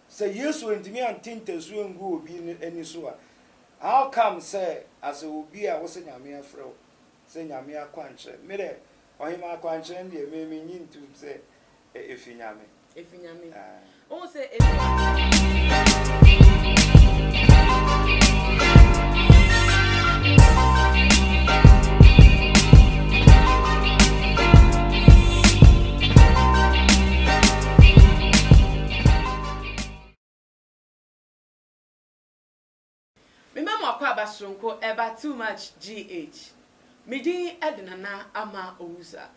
Sɛ Yesu antumi ante ntasu angu obi no ani so a, how come sɛ asɛ obi a wose Nyame afrɛ wo sɛ Nyame akwankyerɛ? Me dɛ Ɔhemaa akwankyerɛ no deɛ me mennye ntum sɛ efi Nyame. Efi Nyame. Wohu sɛ efi. Me mma mo akwaaba soronko ɛba too much GH me din ɛde Nana Ama Owusa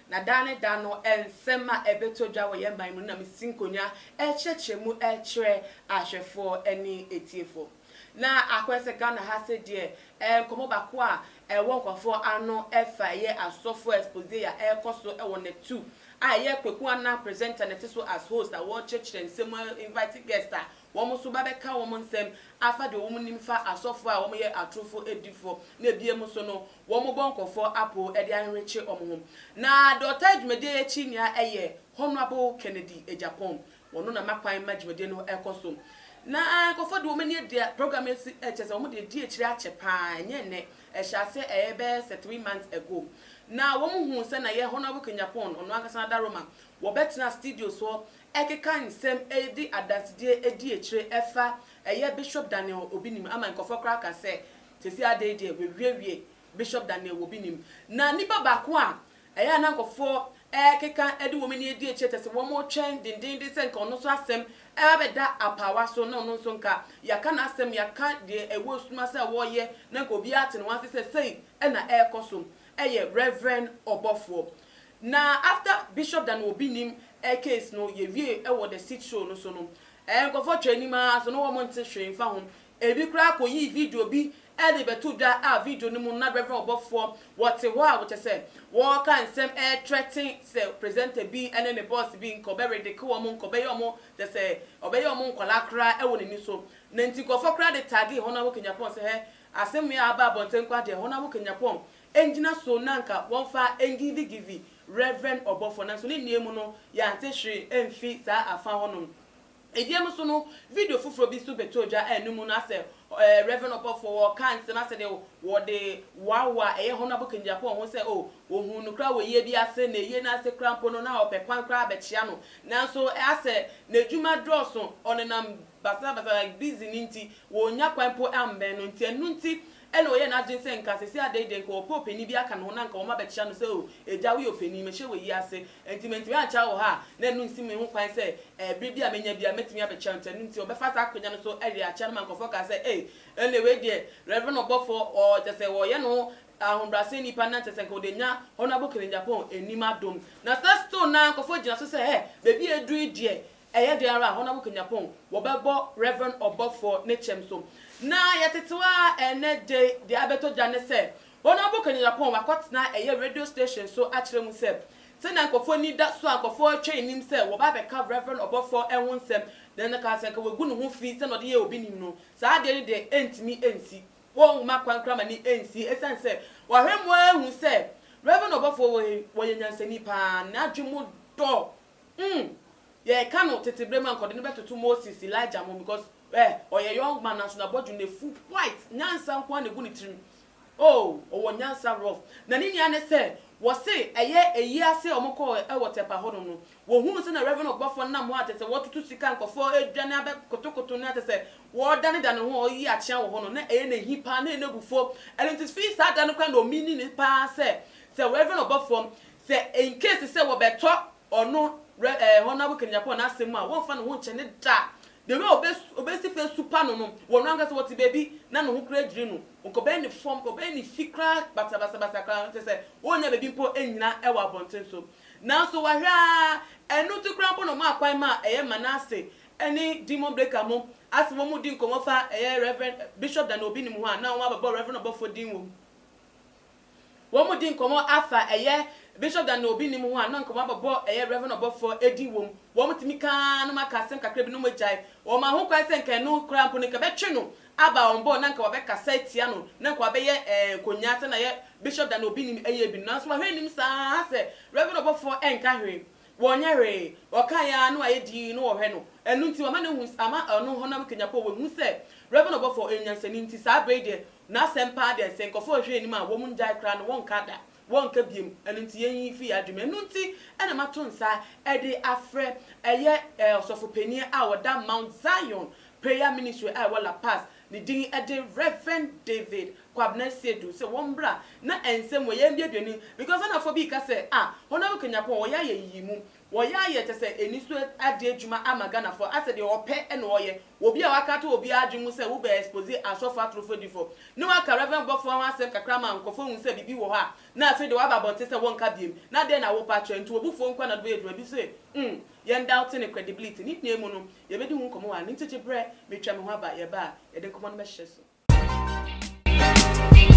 na daa ne daa no nsɛm a ɛbɛtɔ dwa wɔ yɛn man mu no na mesi nkonwa ɛrekyerɛkyerɛ mu ɛrekyerɛ ahwɛfoɔ ɛne atiefoɔ. Na akɔyɛ sɛ Ghana ha se deɛ ɛɛ nkɔmɔ baako a ɛwɔ nkorɔfoɔ ano ɛfa ɛyɛ asɔfoɔ expose a ɛɛkɔ so ɛwɔ Neptu a ɛyɛ Kweku Anah presenter na ɛte so as host a wɔɔkyerɛkyerɛ nsɛm mu a invite guest a wɔn nso ba bɛka wɔn nsɛm afa deɛ wɔn nim fa asɔfoɔ a wɔn yɛ atorofo adifɔ na ɛbiem nso no wɔn bɔ nkɔrɔfoɔ apoo ɛde anwekye wɔn ho na deɛ ɔtaa dwumadie yi akyi nea ɛyɛ Honourable Kennedy Agyapong Wɔno na ma kwan ma dwumadie no ɛkɔ so. Na nkorɔfoɔ de wɔn ani ɛdeɛ program yi asi ɛkyɛ sɛ wɔn de adi akyire akyɛ paa ɛnyɛ ɛnɛ. Ɛhyɛ aseɛ ɛyɛ bɛyɛ sɛ three months ago. Na wɔn huu sɛ na yɛ Honourable Kanyapon, ɔno ankasa na Daroma, wɔbɛtena studio soɔ ɛkeka nsɛm ɛde adansedie adi akyire ɛfa ɛyɛ Bishop Daniel Obinim ama nkorɔfoɔ koraa aka sɛ seesei adei deɛ w'awiewie Bishop Daniel Obinim. Na nipa baako a Ɛyɛ a na nkurɔfoɔ rekeka de wɔn ani adi akyire kyerɛ sɛ wɔretwɛn dendeenden sɛ nka ɔno nso asɛm bɛba abɛda apaawa so na ɔno nso nka yɛaka n'asɛm, yɛaka deɛ ɛwɔ esum ase a ɔreyɛ na nka obiara ate ne ho ase sɛ sei na ɛrekɔ so. Ɛyɛ Reverend ɔbɔfoɔ. Na after Bishop Dan Obinim case no, yɛwiee wɔ The Seat Show no so no, nkurɔfoɔ twaa anim ara so, na wɔn nte hwee mfa ho. Ebi koraa koyii video bi de rebɛto dwa a video no mu no na Rev. Ɔbɔfoɔ wɔte hɔ a wɔkyɛ sɛ wɔreka nsɛm retrɛten sɛ presenter bi ne ne boss bi nka ɔbɛredeke wɔn, nka ɔbɛyɛ wɔn kyɛ sɛ ɔbɛyɛ wɔn nkwadaa koraa wɔ n'ani so. Na nti nkurɔfoɔ koraa de tagee Hon Awo Kenyapong sɛ hɛ asɛm wei a aba abɔnten koraa deɛ Hon Awo Kenyapong ngyina so na nka wɔmfa ngivigivi Rev. Ɔbɔfoɔ nanso ne nnuayi mu no yɛante hwee amfi saa afa hɔnom. Edie no so no, video foforɔ bi nso bɛtɔɔ dwa a ɛno mu no asɛ Rev. Ɔpɔfoɔ Wall kaa nsɛm asɛ deɛ wɔde woawoa a ɛyɛ Honourable Kennedy Apoah ho sɛ oh wɔhuu no koraa wɔ yie bi ase na yie no ase koraa mpo no na ɔpɛ kwan koraa bɛkyea no nanso asɛ n'adwuma dɔɔso ɔnenam basabasa like busy no nti wɔnnya kwan mpo ammɛn no nti ɛno nti Ɛnna ɔyɛɛ n'adwene sɛ nka seesei adɛn deɛ, nka ɔpɛ ɔpanin bi aka ne ho na nka wɔma bɛkyea no sɛ, O agya, woyɛ ɔpanin, mehyɛ wɔ yi ase, enti mantumi ankyea wɔ ha a, na ɛno nsi me ho kwan sɛ ɛberɛ bi a mɛnya biara mɛtumi abɛkyea wo, nti ɛno nti ɔbɛfa saa akwanya no so were akyea no ma nkurɔfoɔ kaa sɛ, Ei, ɛnneɛ wei deɛ Reverend ɔbɔfoɔ, ɔ, kyerɛ sɛ ɔyɛ ne ho ahobrɛaseɛ nipa na kyerɛ sɛ nka ɔde anya Honourable Kennedy Aponn anim adom. Na saa stone no ara nkurɔfoɔ gyina so sɛ, Hɛ, baabi a aduru yi deɛ, Ɛyɛ dɛn ara a, hɔn a wokenya pon wɔbɛbɔ Rev. Ɔbɔfo ne kyɛm so. Na yɛtsetsew ara ndɛ dze dza abɛtɔ gya nye sɛ, hɔn a wokenya pon wɔakɔtsena ɛyɛ radio station so akyerɛ mu sɛ, sɛnea nkorɔfo enyi da so a nkorɔfo retwɛn enyim sɛ wɔba abɛka Rev. Ɔbɔfo ho nsɛm na nna ka sɛ nka woegu no ho fi sɛnea ɔdze yɛ obi nyim no, saa adze no dze enntumi nnsi. Wonnhoma kwan koraa ma no ennsi esiane sɛ wɔahwɛ mu ehu sɛ Rev. Ɔbɔfo wɔ he, wɔyɛ nyansani paa, n'adwen mu dɔ Umm yɛreka no tete berɛ mu a nka ɔde no bɛtoto Moses, Elijah ho because eh ɔyɛ young man nanso n'abɔdwene no afu quite, nyansa nko ara na ɛgu ne tirim oh ɔwɔ nyansa rough na ne nua ne sɛ wɔse ɛyɛ ayi ase a wɔkɔɔ wɔ Tɛpa hɔnom no wɔhunu sɛnea Rev Ɔbɔfoɔ nam hɔ a kyerɛ sɛ wɔretoto sika a nkurɔfoɔ redwane abɛ kotokoto no a kyerɛ sɛ wɔredanedane ho a ɔreyi akyea wɔ hɔ no na ɛyɛ no ahi paa na ɛyɛ no abufuo ɛno nti firi saa da no koraa na ɔmeaning no paa sɛ sɛ Rev Ɔbɔfoɔ Sɛ in case sɛ wɔbɛtɔ ɔno Re eh, Honourable Ken Agyapong n'asɛm mu a, wɔmfa ne ho nkyɛ ne da. The way obe obesi fa asupa no no, wɔ no ankasa wɔte baabi na ne ho koraa dwiri no, ɔkɔbɛn ne fam, ɔbɛn ne fi koraa basabasabasa koraa, kyerɛ sɛ ɔnnya baabi mpo nnyina wɔ abɔnten so. Nanso wahwɛ ara, ɛno nti koraa mpo na wɔmaa kwan maa ɛyɛ Manasse ne Demon Breaker mo a sɛ wɔredi nkɔmmɔ fa ɛyɛ Rev. Bishop Daniel Obinim ho a na wɔabɛbɔ Rev. Ɔbɔfoɔ din wɔ mu. wɔredi nkɔmmɔ afa ɛyɛ Bishop Dan na obi nim ho a na nkɔmmɔ abɛbɔ ɛyɛ Rev ɔbɔfoɔ edin wɔ mu, wɔtumi ka ara na wɔaka asɛm kakra bi na wɔagyae, wɔmaa ho kwan sɛ nka ɛno koraa mpo no nka ɛbɛtwe no aba wɔn bɔ na nka wɔabɛkasa atia no na nka wɔabɛyɛ ɛɛ nkonyaa sɛnea ɛyɛ Bishop Dan na obi nim ɛyɛ bi no nanso wahwɛ anim saa ara sɛ Rev ɔbɔfoɔ ɛnka hwee Wɔnyɛ hwee, wɔkae ara na wɔayɛ dinn na wɔhwɛ no. Ɛno nti, wɔama no ahu, ama ɔno honam kanyapɔ a ɔwɔ no hu sɛ Rev. Obofoɔ yɛ nyansani nti saa berɛ yi deɛ n'asɛm paa deɛ sɛ nkurɔfoɔ hwehwɛ anim a wɔn ngyae koraa no wɔnka da, wɔnka biom, ɛno nti yɛn yi firi yɛn adwene mu. Ɛno nti na mato nsa de afrɛ ɛyɛ Ɔsɔfo Panin a ɔda Mount Zion Prayer Ministry a ɛwɔ La Paz, Ne din de Rev. David Kwabena Seidu sɛ wɔn bra na ɛnsɛm wɔ yɛn duadua no mu because Ghanafoɔ bi reka sɛ ah wɔn abɛka Nyapon wɔyɛ ayɛ nyiyimu wɔyɛ ayɛ kyɛ sɛ aniso ade adwuma ama Ghanafoɔ asɛ deɛ ɔpɛ na ɔyɛ wɔ bi a waka ato obi ara adwene mu sɛ wo bɛ expose asɔfoɔ atorofo adifo ne waka Rev. Bɔfoɔ ho asɛm kakra ama nkorɔfoɔ ahu sɛ biribi wɔ hɔ a na afei deɛ waba abɔnten sɛ wɔnka biom na dɛn na wopa kyerɛ nti wo bofuo nko a na wode bɛyɛ adwuma bi se umm Yɛn doubt ne credibility, ne nyinaa mu no, yɛbɛdi ho nkɔmmɔ wɔ ha. Ne nti gye berɛ, metwa me ho aba, yɛba a, yɛde nkɔmmɔ no bɛhyɛ so. Yɛfrɛ me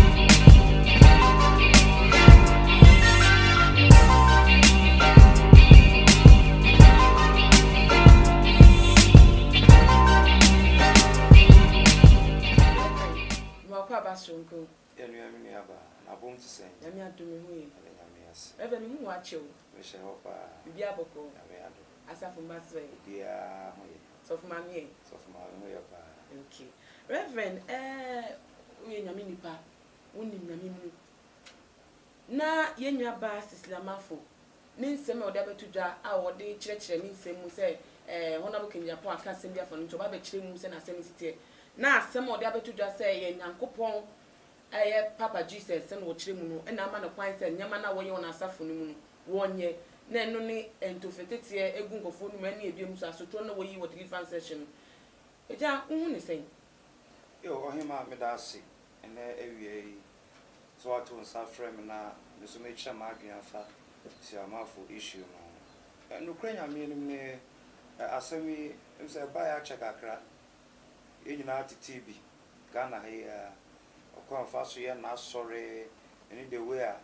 Nuaku Aba Soronko. Yɛ nua me nua baa. Na abom te sɛn. Nyame adom me ho ye. Yɛda Nyame ase. Rev me hu wo akye o. Me hyɛ hɔ paa. Biribiara bɔkɔɔ. Nyame adom. Asafo mma so ɛ. Obiara ho ye. Sɔfo maame ɛ. Sɔfo maame ho yɛ paa. Ok Rev ɛɛh wo yɛ Nyame nipa wo nim Nyame mu. na yɛn nuabaa Cecilia Marfo ne nsɛm a ɔde abɛto dwa a ɔde kyerɛkyerɛ ne nsɛm mu sɛ eh, Honorable Kennedy Apo aka asɛm bi afa no nti ɔba abɛkyerɛ mu sɛ n'asɛm no si teɛ, na asɛm a ɔde abɛto dwa sɛ yɛn Nyankopɔn ɛyɛ Papa Jesus sɛ na wɔkyerɛ mu no na ama no kwan sɛ nneɛma no a wɔyɛ wɔ n'asafo no mu no wɔnyɛ, na ɛno ne ntofeteteɛ gu nkurɔfoɔ anom ɛne ɛbiom nso asotorɔ no na wɔyi wɔ deliverance session no. Agya, wohu ne sɛn? Eo Ɔhemaa meda ase nnɛ awia yi sɛ woato nsa afrɛ me na me nso mekyerɛ m'adwene afa Siamafo issue no ho. Nokorɛ Nyame anim no ɛ asɛm yi menim sɛ ɛbaeɛ akyɛ kakra. Yɛn nyinaa tetee bi Ghana ha yi ara. Ɔkwan a ɔfa so yɛ n'asɔre ɛne the way a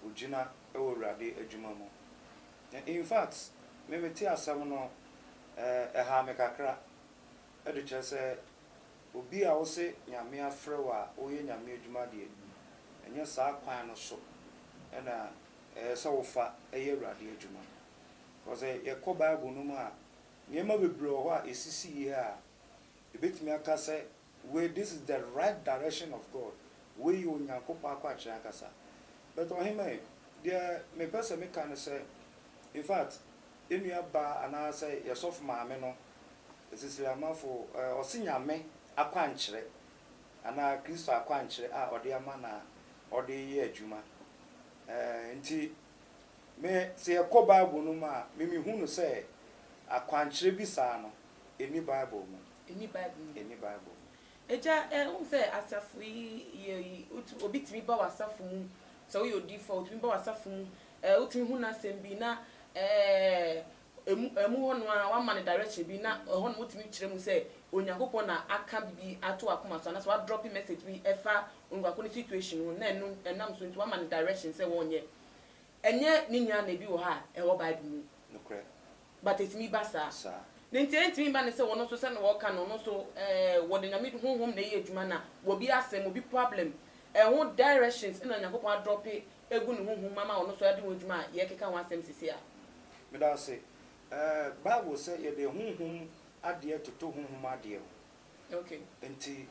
ɔgyina wɔ Awurade adwuma mu. Infact me metee asɛm no ɛ ɛhaa me kakra. de kyerɛ sɛ obi a wose Nyame afrɛ wo a woyɛ Nyame adwuma deɛ, ɛnyɛ saa kwan no so na ɛyɛ sɛ wofa yɛ Awurade adwuma. Because sɛ yɛkɔ Bible no mu a, nneɛma bebree wɔ hɔ a ɛsisiiɛ a yɛbɛtumi aka sɛ wei, this is the right direction of God, wei yɛ Onyankopɔn akwankyerɛ ankasa. But Ɔhemɛn, deɛ mepɛ sɛ meka ne sɛ, in fact, Yɛ nua baa anaa sɛ yɛ sɔfo maame no, esisiri amafo, ɔse Nyame akwankyerɛ anaa Kristo akwankyerɛ a ɔde ama na ɔde reyɛ adwuma. Nti me sɛ yɛ kɔ Bible no mu a, me me hu no sɛ akwankyerɛ bi saa no, ɛnni Bible mu. Ɛnni Bible mu. Ɛnni Bible mu. Agya, ɛ, wohu sɛ asafo yi yɛ yi, wotu, obi tumi ba w'asafo mu, sɛ woyɛ odiyifoɔ a, otumi ba w'asafo mu, ɛ, wotumi hu n'asɛm bi na, ɛ, ɛmu, ɛmu hɔ no ara woama no direction bi na ɛhɔ nom wotumi kyerɛ mu sɛ Onyankopɔn na aka biribi ato w'akoma so anaasɛ w'adrɔpe message bi ɛfa onipa ko ne situation ho na ɛno, ɛnam so nti woama no direction sɛ wɔnyɛ Ɛnyɛ ne nua na ebi wɔ hɔ a ɛwɔ bible mu. Nokorɛ. But ɛtumi ba saa. Saa. Ne nti ɛntumi mma ne sɛ wɔn nso sɛnea wɔka no no nso ɛɛ wɔde nyame honhom na ɛyɛ adwuma na wɔbi asɛm obi problem ɛho directions ɛna nyankopɔn adrɔpe ɛgu ne honhom mu ama wɔn nso ɛde ho adwuma a yɛkeka ho asɛm sisi a. Meda ase. Ɛɛ bible sɛ yɛde honhom adeɛ toto honhom adeɛ ho. Okay. Nti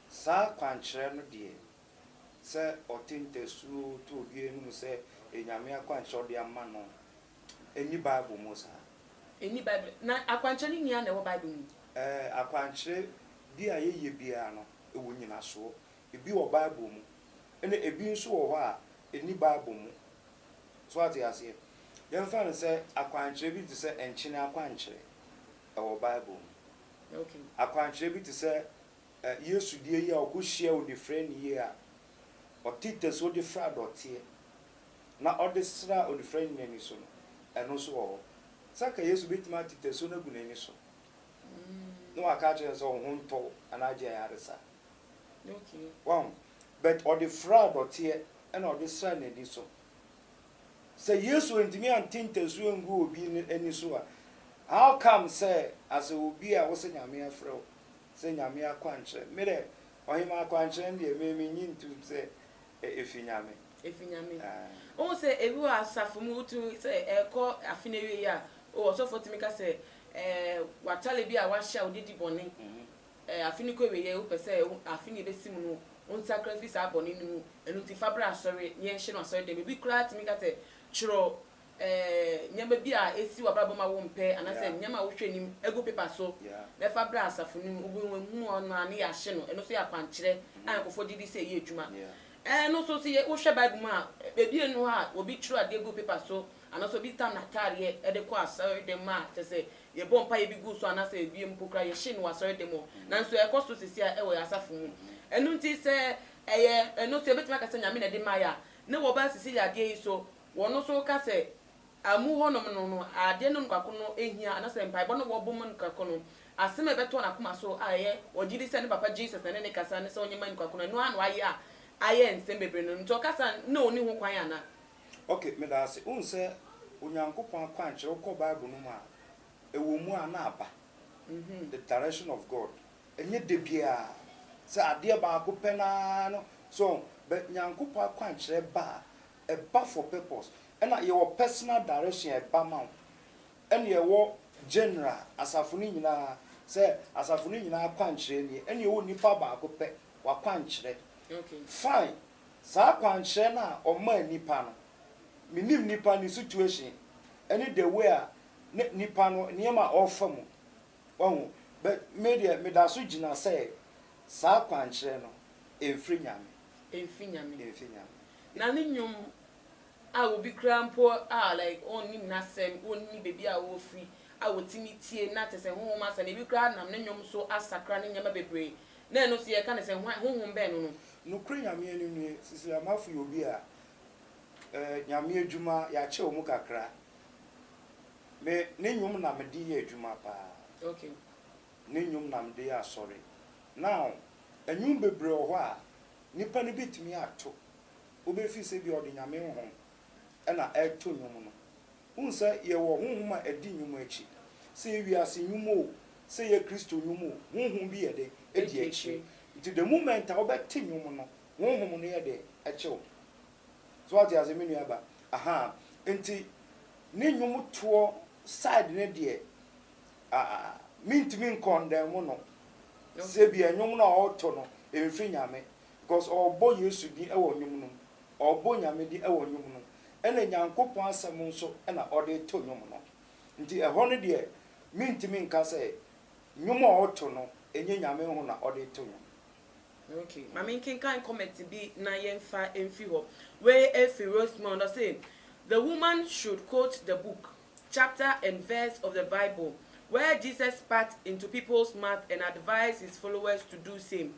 saa kwankyerɛ no deɛ sɛ ɔte ntasuo to obi anim sɛ Nyame akwankyerɛ a ɔde ama no nni Bible mu saa. Ɛnni Bible mu. Na akwankyerɛ no nyinaa na ɛwɔ Bible mu? Ɛɛ, akwankyerɛ bi a yɛyɛ biara no, ɛwɔ nnyinasoɔ. Ebi wɔ Bible mu, ɛna ebi nso wɔ hɔ a, ɛnni Bible mu. So woate aseɛ? Yɛmfa no sɛ akwankyerɛ bi te sɛ nkyene akwankyerɛ, ɛwɔ Bible mu. Okay. Akwankyerɛ bi te sɛ Yesu deɛ yi a ɔkɔhyiaa onifirani yi a ɔte ntasuo de fra dɔteɛ na ɔde sraa onifirani no ani so no, ɛno nso wɔ hɔ. Sɛ anka Yesu bɛtumi ate ntasuo no agu n'ani so na waka akyerɛ no sɛ wo ho ntɔ wo anaa gye ayaresa a, wahu? But ɔde fraa dɔteɛ ɛna ɔde sraa n'ani so. Sɛ Yesu antumi ante ntasuo angu obi ani so a, how come sɛ as obi a wosɛ Nyame afrɛ wo sɛ Nyame akwankyerɛ. Me dɛ, ɔhemaa akwankyerɛ no deɛ, me mennye ntum sɛ efi Nyame. Efi Nyame. Wohu sɛ ebi wɔ asafo mu, wotumi, sɛ ɛrekɔ afe no awieɛ a, oh, ɔsɔfoɔ tumi ka sɛ, eh, w'atare bi a woahyɛ a wode di bɔne, eh, afe no kɔ awieɛ, wopɛ sɛ afe no ɛbɛsi mu no, wonsakra firi saa bɔne no mu, ɛno nti fa bra asɔre na yɛnhyɛ no asɔre dan mu. Ebi koraa tumi ka sɛ, twerɛ nneɛma bi a esi w'abrabɔ mu a wompɛ anaasɛ nneɛma a wohwɛ anim gu paper so na ɛfa bra asafo no mu. Obi wahunu ɔno a ne yɛahye no. Ɛno nso yɛ akwankyerɛ a nkurɔfoɔ gye di sɛ ɛyɛ adwuma. Ɛno nso sɛ yɛ wohwɛ Bible mu a, baabi nni hɔ a obi twerɛ adeɛ gu paper so anaasɛ obi tam n'ataadeɛ de kɔ asɔredan mu a kyerɛ sɛ yɛbɔ mpaeɛ bi gu so anaasɛ ebi mpo koraa yɛhye no wɔ asɔredan mu. Nanso ɛkɔ so seesei wɔ yɛn asafo mu. Ɛno nti sɛ ɛyɛ ɛno nso yɛbɛtumi aka sɛ Nyame na ɛde maeɛ a, na wɔba asisi yɛn adeɛ yi so Wɔn nso ka sɛ, Amu hɔnom no, no adeɛ no mu baako no hia, anaasɛ mpaebɔ no wɔbɔ mu no kako no, asem a ɛbɛtɔ n'akoma so a ɛyɛ ɔgye di sɛ ne papa Jesus na ɛne no rekasa ne sɛ ɔnyɛ mma nnipa ko no, ɛno ara na wayɛ a ayɛ nsem bebree no. Nti ɔka saa na ɔnni ho kwan anaa? Ok, meda ase. Wohu sɛ Onyankopɔn akwankyerɛ, wokɔ Bible no mu a, ɛwɔ mu a na aba, the direction of God. Ɛnyɛ da biara sɛ adeɛ baako pɛ no ara no, so ɔho? But Nyankopɔn akwankyerɛ ba a, Ɛba for purpose ɛna yɛwɔ personal direction a ɛba ma wo ɛna yɛwɔ general asafo no nyinaa sɛ asafo no nyinaa akwankyerɛ nie ɛna yɛwɔ nipa baako pɛ wakwankyerɛ fine saa akwankyerɛ no a ɔmaa nipa no me nim nipa ne situation ɛne the way a ne nipa no nneɛma a ɔrefa mu wahu but me deɛ meda so gyina sɛ saa akwankyerɛ no ɛmfiri Nyame ɛmfiri Nyame ɛmfiri Nyame. Na ne nnwom a obi koraa mpo a like ɔnnim n'asɛm, ɔnni baabi a ɔfiri a ɔtumi tie na kyerɛ sɛ honhom asɛm, ebi koraa nam ne nnwom so asakra ne nneɛma bebree na ɛno nso yɛka no sɛ hwan, honhom bɛn no no. Nokorɛ Nyame anim nie, Sisi Lamafo yɛ obi a eh, Nyame adwuma, yɛakyɛ ɔmu kakra. Me, ne nnwom na mede yɛ adwuma paa. Okay. Ne nnwom na mede yɛ asɔre. Now, nnwom bebree wɔ hɔ a, Nipa no bɛtumi ato wo bɛ firi sɛ ebia ɔde Nyame honhom na ɛreto nnwom no. Wohu sɛ yɛwɔ honhom a ɛdi nnwom akyi. Sɛ yɛ wiase nnwom o, sɛ yɛ Kristo nnwom o, honhom bi yɛ dɛn? Ɛdi akyire. Nti the moment a wobɛte nnwom no, honhom no yɛ dɛn? Ɛkye wo. So wate aseɛ me nua ba? Ahaa. Nti ne nnwom toɔ side no deɛ Ah ah mintumi nkɔndɛm no sɛ bia nnwom no a ɔɔto no ɛmfiri Nyame cos ɔɔbɔ Yesu din wɔ nnwom no mu, ɔɔbɔ Nyame din wɔ nnwom no ɛna Nyankopɔn asɛm nso na ɔde to nnwom no nti ɛhɔ no deɛ mintumi nka sɛ nnwom a ɔɔto no ɛnyɛ Nyame ho na ɔde to nnwom. Ok ma me nkenkan comment bi na yɛmfa mfiri hɔ wei ɛfiri Rosemond ɔse the woman should quote the book chapter and verse of the Bible where Jesus spat into people's mouth and advised his followers to do same.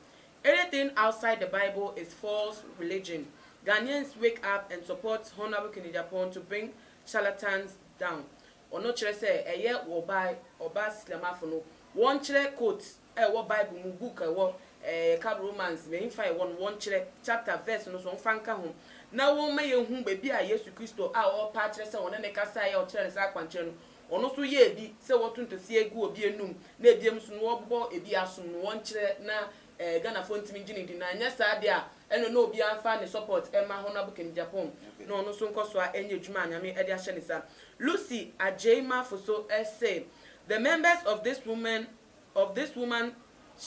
Anything outside the Bible is false religion. Ghanaians wake up and support Hon Awuku Nijapong to bring charlatans down. Ɔno kyerɛ sɛ ɛyɛ ɔbaa ɔbaa Silamafo no wɔnkyerɛ quote. a ɛwɔ Bible mu book a ɛwɔ eh, yɛka Romans, mɛmfa ɛwɔ no, wɔnkyerɛ chapter, verse no so, wɔmfa nka ho, na wɔmma yɛnhu baabi a Yesu Kristo a ɔrepɛ akyerɛ sɛ ɔne no kasaeɛ a ɔkyerɛɛ no saa akwankyerɛ no, ɔno nso yɛɛ bi sɛ wɔto ntoseɛ gu obi anum na ebiam nso no wɔbobɔ ebi asom no, wɔnkyerɛ na eh, Ghanafoɔ ntumi ngye no di, na anyɛ saa deɛ a ɛno na obiara mfa ne support mma Honourable Kemi Gyapong na ɔno nso nkɔ so a ɛnyɛ adwuma a Nyame de ahyɛ ne nsa. Lucy Agyei Mafoso se, The members of this women of this woman's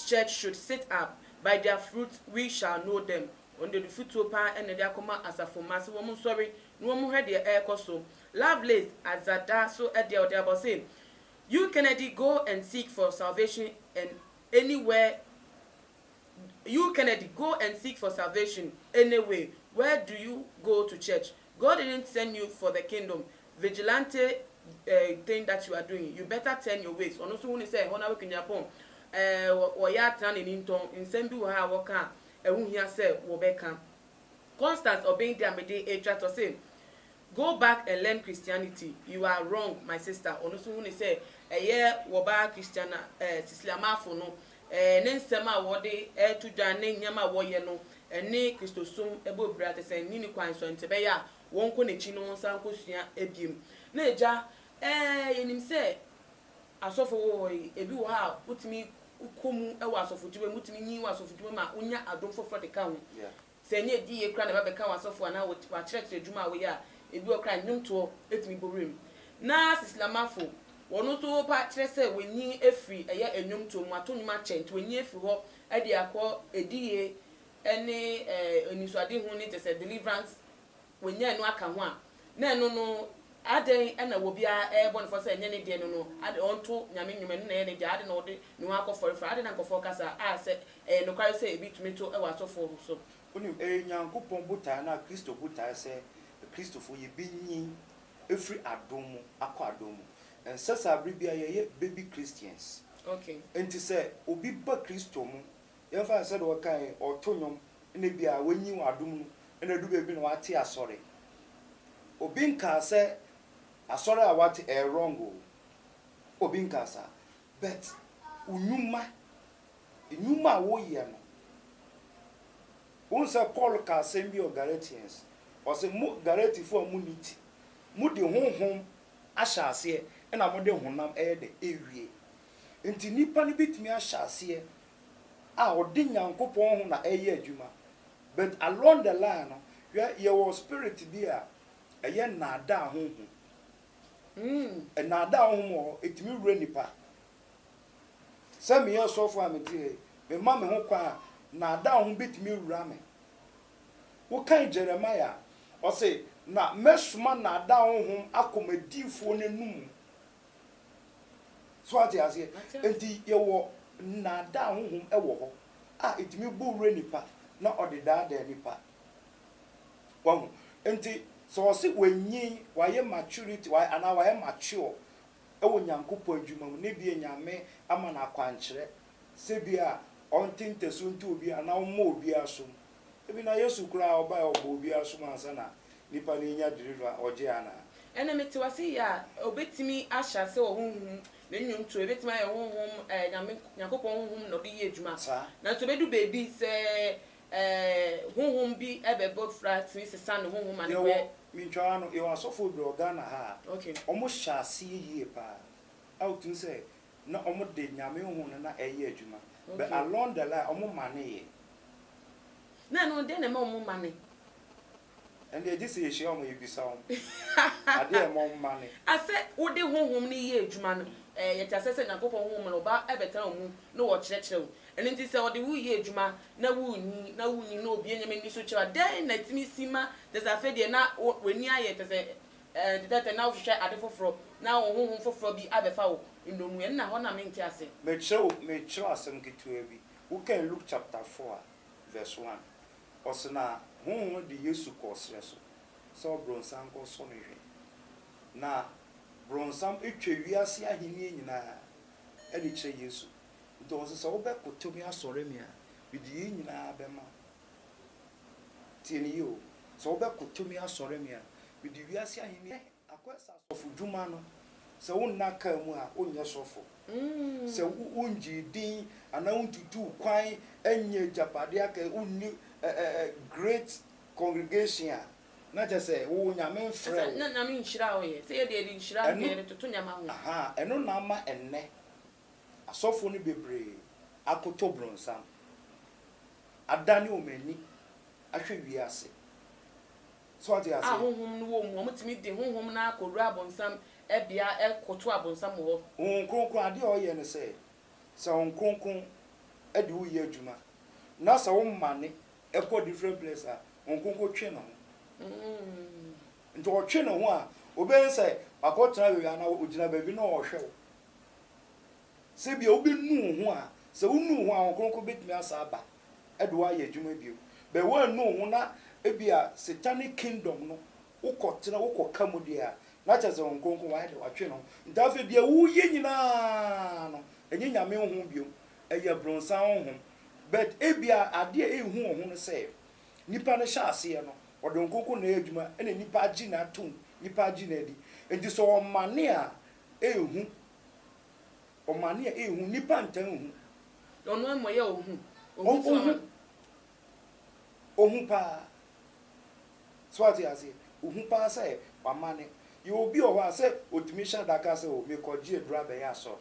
church should sit up, by their fruits we shall know them, wɔn deɛ dufutuo paa na ɛde akɔma asafo mma se wɔn nsɔre na wɔn nhwɛ deɛ ɛrekɔ so. Lovelace Adzada so deɛ ɔde aba ɔse, You Kennedy go and seek for salvation and anywhere you Kennedy go and seek for salvation any way where do you go to church God didn't send you for the kingdom vigilante eh thing that you are doing you better turn your ways ɔno nso hu ne sɛ ɛhɔ no ara Kunyampɔn eh wɔyɛ atena n'ani ntɔn nsɛm bi wɔ ha a wɔka a ɛho hia sɛ wɔbɛka. Constance Obeng de a mede retwa to ɔse Go back and learn Christianity you are wrong my sister ɔno nso hu no sɛ ɛyɛ wɔbaa Christiana eh, Sisliamafo no eh, ne nsɛm a wɔde reto dwan ne nneɛma a wɔyɛ no ɛne Kristosom ɛbɔ bira te sɛ nni ne kwan so ɛnti ɛbɛyɛ a wɔnkɔ n'akyi na wɔnsan nkɔsua ɛbiem na agya eh, yɛnim sɛ Asɔfo wɔ hɔ yi, ebi wɔ hɔ a wotumi kɔ mu wɔ asɔfodwuma mu, wotumi nyin wɔ asɔfodwuma mu a wonya adom foforɔ de ka ho. Sɛ ɛnyɛ adiyie koraa na ɛba bɛka w'asɔfo anaa w'akyerɛkyerɛ adwuma a woyɛ a, ebi wɔ hɔ koraa a nnwomtoɔ tumi bɔ wuram. Na Sisilamafo, wɔn nso wopa kyerɛ sɛ wɔanyin afiri ɛyɛ nnwomtoɔ mu, wɔato nnwom akyɛ, nti wɔanyin afiri hɔ de akɔ adiyie ne anisoadehu ne kyerɛ sɛ deliverance wɔnyae no aka ho a, na ɛno no adɛn na obiara rebɔ no fɔ sɛ ɛnyɛ ne deɛ no no, ade ɔnto Nyame nnwom, ɛno na ɛyɛ ne dea, ade na ɔde ne ho akɔfɔre fra, adɛn na nkurɔfoɔ reka saa, a sɛ ɛyɛ nokware sɛ ebi tumi to wɔ asɔfoɔ so. Wonim, ɛyɛ Nyankopɔn botaeɛ anaa Kristo botaeɛ sɛ Akristofoɔ yɛbɛnyin afiri adom mu akɔ adom mu. Ɛnsɛ saa berɛ biara yɛyɛ baby Christians. Enti sɛ obi ba Kristo mu Yɛmfa no sɛdeɛ ɔkae, ɔreto nnwom na ebia wanyin wɔ adom mu na adu baabi na wate asɔre. Obi nkaa sɛ asɔre a wate ɛyɛ wrong o, obi nkaa saa but wo nnwuma, nnwuma a woyɛ no, wohu sɛ Paul kaa asɛm bi wɔ Galatians, ɔse mo Galatifo a monni ti, mode honhom ahyɛ aseɛ na mode honam ɛyɛ dɛ? Ɛwie. Nti nnipa no bɛtumi ahyɛ aseɛ a ɔde Nyankopɔn ho na ɛyɛ adwuma but along the line no hwɛ yɛwɔ spirit bi a ɛyɛ nnaadaa honhom mm nnaadaa honhom wɔ hɔ ɛtumi wura nipa sɛ meyɛ ɔsɔfo a mete hɛ me ma me ho kwan a nnaadaa honhom bɛtumi awura me wokan Jeremiah a ɔse na mɛsoma nnaadaa honhom akɔ m'adiifoɔ no anumu So ate aseɛ? Enti yɛwɔ nnaadaa honhom wɔ hɔ a ɛtumi bɔ wura nipa na ɔde daadaa nipa. Wahu? Enti sɛ ɔse wanyin, wayɛ maturity, wayɛ, anaa wayɛ mature wɔ Nyankopɔn adwuma mu, na ebia Nyame ama no akwankyerɛ sɛ bi a ɔnte ntasu nto obi anaa ɔmmɔ obi asom, Ebi na Yesu koraa ɔbae ɔbɔɔ obiara som ansa na nipa no enya deliver a ɔgye anaa? Ɛna mete w'ase yɛ a, obetumi ahyɛ ase wɔ honhom mu, ne nnwonto, ebetumi ayɛ honhom, ɛɛ Nyame, Nyankopɔn honhom na ɔde yɛ adwuma. Saa. Nanso ebedu baabi sɛ, ɛɛ honhom bi ɛbɛbɔ fra tumi sesa ne honhom ma ne Yɛwɔ, kɔyɛ. mentwa w'ano, yɛwɔ asɔfo bebree wɔ Ghana ha a, Okay. wɔhyɛ aseɛ yie paa a wotumi sɛ na ɔmo de Nyame honhom no na ɛyɛ adwuma but along the line ɔmo mane yɛ. Na ɛno deɛn na ɛma ɔmo mane? Ɛndeɛ gye sɛ yɛhyia ɔmo yɛbisa ɔmo adeɛ a ɛma ɔmo mane. Asɛ wode honhom no yɛ adwuma no ɛɛ yɛte aseɛ sɛ Nyankopɔn honhom no ɔba ɛbɛtena wo mu na wɔkyerɛkyerɛ wo ɛno nti sɛ ɔde wo yɛ adwuma na wonni na wonni na obue nneɛma ani so kyerɛ wo a dɛn na ɛtumi si ma kyɛsɛ afei deɛ na w'ani ayɛ kyɛsɛ Enti tɛtɛ na wohwehwɛ ade foforɔ, na wo honhom foforɔ bi abɛfa wo nnommum. Ɛnna hɔ na mente ase. Mekyerɛ wo, mekyerɛ wo asɛm ketewaa bi. Wokan Luke chapter four a, verse one, ɔse na Honhom no de Yesu kɔɔ serɛ so sɛ ɔbronsam nkɔsɔ no hwɛ. Na bronsam twa wiase ahennie nyinaa de kyerɛ Yesu. Nti ɔse sɛ wobɛkoto me asɔre me a, mede yei nyinaa bɛma wo. Tie no yie o, sɛ wobɛkoto me asɔre me a, mede wiase ahenni bɛma wo. Akɔ ɛsɛ asɔfodwuma no, sɛ wonna kaa mu a, wonyɛ sɔfo. Sɛ wongyee din anaa wontutuu kwan nnyɛɛ agyapadeɛ aka yi, wonni great congregation a, na kyerɛ sɛ wo Nyame mfrɛɛ wo. Ɛno na ama ɛnnɛ Asɔfo no bebree akoto bronsam, adane wɔn ani ahwɛ wiase. So wate A aseɛ? honhom no wɔ mu, wɔtumi de honhom no ara kɔwura abonsam bea koto abonsam wɔ hɔ. Honhom Kronkron, adeɛ a ɔyɛ ne sɛ, sɛ Honhom Kronkron de wo yɛ adwuma, na sɛ wo mane kɔ different place a, Honhom Kronkron twe ne ho. Nti ɔtwe ne ho a, ɔbɛhu sɛ wakɔtena baabi anaa ɔgyina baabi na ɔrehwɛ wo. Sɛ ebia wobɛnu wo ho a, sɛ wonu wo ho a, Honhom Kronkron bɛtumi asan aba de wo ayɛ adwuma bio. But woannu wo ho na ebia satanic kingdom no wokɔtena, wokɔka mu deɛ a, na kyerɛ sɛ Honhom Kronkron wayɛ dɛ, watwe ne ho. Nti afei deɛ woreyɛ nyina ara no, ɛnyɛ Nyame Honhom bio, ɛyɛ bronsam honhom. But ebia adeɛ a ɛrehu wo ho no sɛ, nipa no hyɛ aseɛ no, ɔde Honhom Kronkron na ɛyɛ adwuma ɛna nipa agye no atom, nipa agye no adi. Nti sɛ ɔmane a, ehu, ɔmane a ehu, nnipa ntaa nhu. Na ɔno amumɔyɛ a ohu, ohu nso ama no. Ohu paa. So ate aseɛ? Ohu paa sɛ wamane. Yɛ obi wɔ hɔ a sɛ otumi hyɛ da ka sɛ o mekɔgye aduro abɛyɛ asɔre.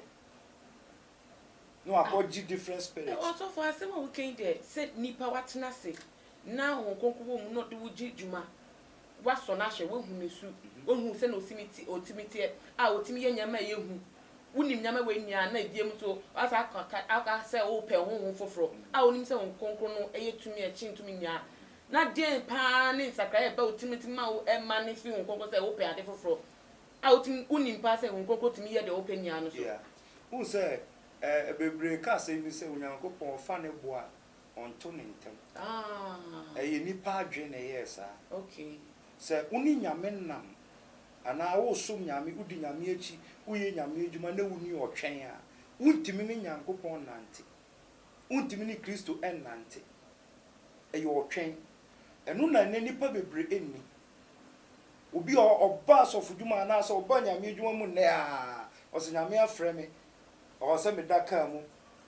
Na wakɔgye different spirit. Ɔsɔfo asɛm a woka yi deɛ sɛ nipa watena ase na Honhom Kronkron wɔ mu na ɔde wo gye dwuma Woasɔ no ahwɛ, woahu ne su, woahu sɛnea otumi te, otumi teɛ, a otumi yɛ nneɛma a ɛyɛ hu. Wunim nneɛma a wannua, na ebiem nso, woasan aka aka aka sɛ wopɛ honhom foforo, a wunim sɛ honhom kronkron no yɛ tumi a ɛkyɛn tumi nyinaa. Na dɛn paa ne nsakrae a ɛba wo tirim nti ma wo ɛma no fi honhom kronkron sɛ wopɛ ade foforo, a wotumi wunim paa sɛ honhom kronkron tumi yɛ deɛ wopɛ nyinaa no so? Yeah. Wohu sɛ, eh, bebree ka asɛm bi sɛ Onyankopɔn fa ne bo a ɔnto ne ntam. Ɛyɛ nnipa adwene na ɛyɛɛ saa. Sɛ wo ne Nyame nam anaa woresom Nyame, wodi Nyame akyi, woyɛ Nyame adwuma na wonni ɔtwɛn a, wontumi ne Nyankopɔn nnante. Wontumi ne Kristo nnante. Ɛyɛ ɔtwɛn. Ɛno na nnɛ nnipa bebree nni. Obi a ɔba asɔfodwuma anaasɛ ɔba Nyame adwuma mu nnɛ a, ɔse Nyame afrɛ me Ɔwɔ sɛ meda kaa mu,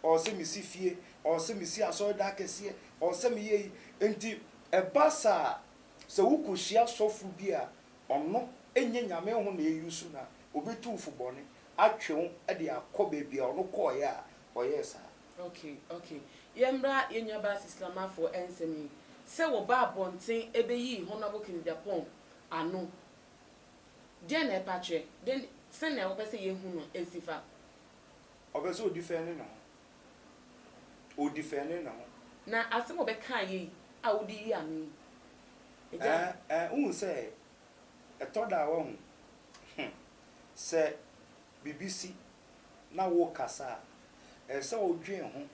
ɔwɔ sɛ mesi fie, ɔwɔ sɛ mesi asɔredan kɛseɛ, ɔwɔ sɛ meyɛ yi. Enti ɛba saa a, sɛ wokɔhyia sɔfo bi a ɔno ɛnyɛ Nyame ho na ɛyusu no a, ɔbɛtu wo fo bɔne, atwe wo de akɔ baabi a ɔno kɔeɛ a ɔyɛɛ saa. Ok, ok. Yɛmmra yɛn nuabaa Sislamafo nsɛm yi. Sɛ wɔba abɔnten bɛyi Honourable Kennedy Aponn ano Deɛn na ɛpa kyerɛ? Deɛn, sɛnea wopɛ sɛ yɛhu no si fa. Ɔpɛ sɛ ɔdifɛnde ne ho. Ɔdifɛnde ne ho. Na asɛm a ɔbɛkaa yei a wode yi ano yi, Agya. Ɛ, ɛ, wohu sɛ, ɛtɔ da a, woahu, hmm, sɛ biribi si na worekasa a, ɛsɛ sɛ wodwen ho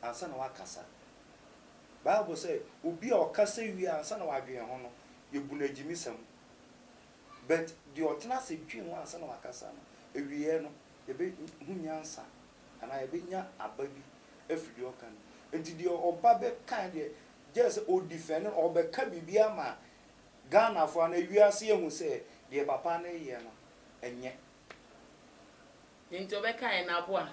ansa na wakasa. Bible sɛ, Obi a ɔkasa wie ansa na wadwen ho no, yebu no agyimisɛm. But deɛ ɔtena ase dwen ho ansa na wakasa no, awieɛ no, yɛbɛhu nyansa anaa yɛbɛnya aba bi afiri deɛ ɔka no mu. Nti deɛ ɔba bɛka deɛ, gyɛ sɛ ɔdifɛnde no, ɔbɛka biribi ama Ghanafoɔ anaa wiase ahu sɛ deɛ papa no reyɛ no, ɛnyɛ. Nti ɔbɛka yɛn aboa.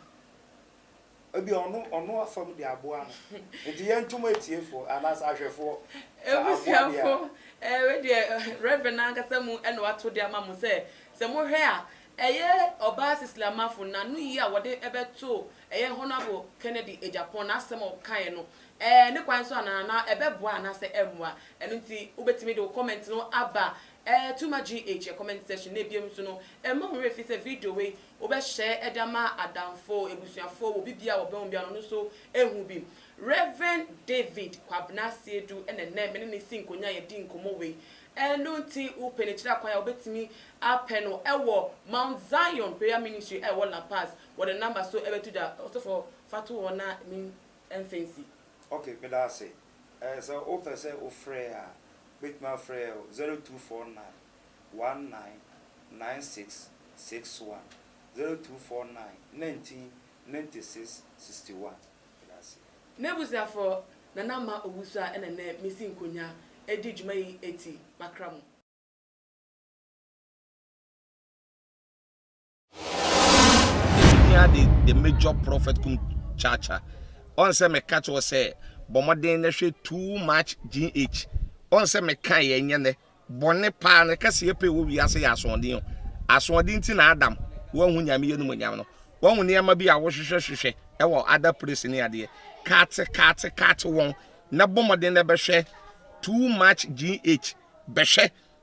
Ebia ɔno ɔno afam de aboa no. Nti yɛnto mo atiefoɔ anaasɛ ahwɛfoɔ sɛ aboa deɛ a. Abusuafoɔ, ɛɛ wei deɛ Rev. no ankasa mu na wato de ama mo sɛ, sɛ mohwɛ a, ɛyɛ ɔbaa Cecily Amafo n'anoyie a wɔde bɛtoo ɛyɛ Honourable Kennedy Agyapong n'asɛm a ɔkaeɛ no, ɛɛ ne kwan so anaa? Anaa ɛbɛboa anaasɛ ɛremmoa? Ɛno nti wobɛtumi de wo comment no aba Eh too much GH yɛ comment section na ebiem nso no ɛmma wo werɛ fi sɛ video wei wo bɛ share de ama adamfo, abusuafo, wɔ obi biaa ɔbɛn wo biaa no ɔno nso ɛhu bi. Rev David Kwabena Asiedu na ɛnnɛ me ne no si nkonya yɛdi nkɔmmɔ wei. Ɛno nti wo pɛ no kyiri akwan a wo bɛtumi apɛ no ɛwɔ Mount Zion Prayer Ministry a ɛwɔ La Paz wɔ ne number so ɛbɛto dwa. Ɔsɔfo fa to hɔ na me mfa nsi. Ok, meda ase. Eh, sɛ wo pɛ sɛ wo frɛ a, wo bɛtumi afrɛ yɛ wɔ 0249199661, 0249199661. Meda ase. M'abusuafoɔ, na na ma owusu a ɛna nɛ mesi nkonya ɛdi dwuma yi ɛti makra mo. Yɛhia the the major prophet kum chacha. Ɔn sɛ meka kyerɛ sɛ bɔ mmɔden na hwɛ too much GH. Ɔn sɛ meka yɛ nyɛ nɛ bɔne paa ne kɛseɛ pɛ wɔ wiase yɛ asoɔden o. Asoɔden ti na Adam wanhu Nyame yɛ no mu nyam no. Wahu nneɛma bi a wohwehwɛ hwehwɛ ɛwɔ other place ne adeɛ. Kaate kaate kaate wɔn na bɔ mmɔden na bɛhwɛ too much GH. Bɛhwɛ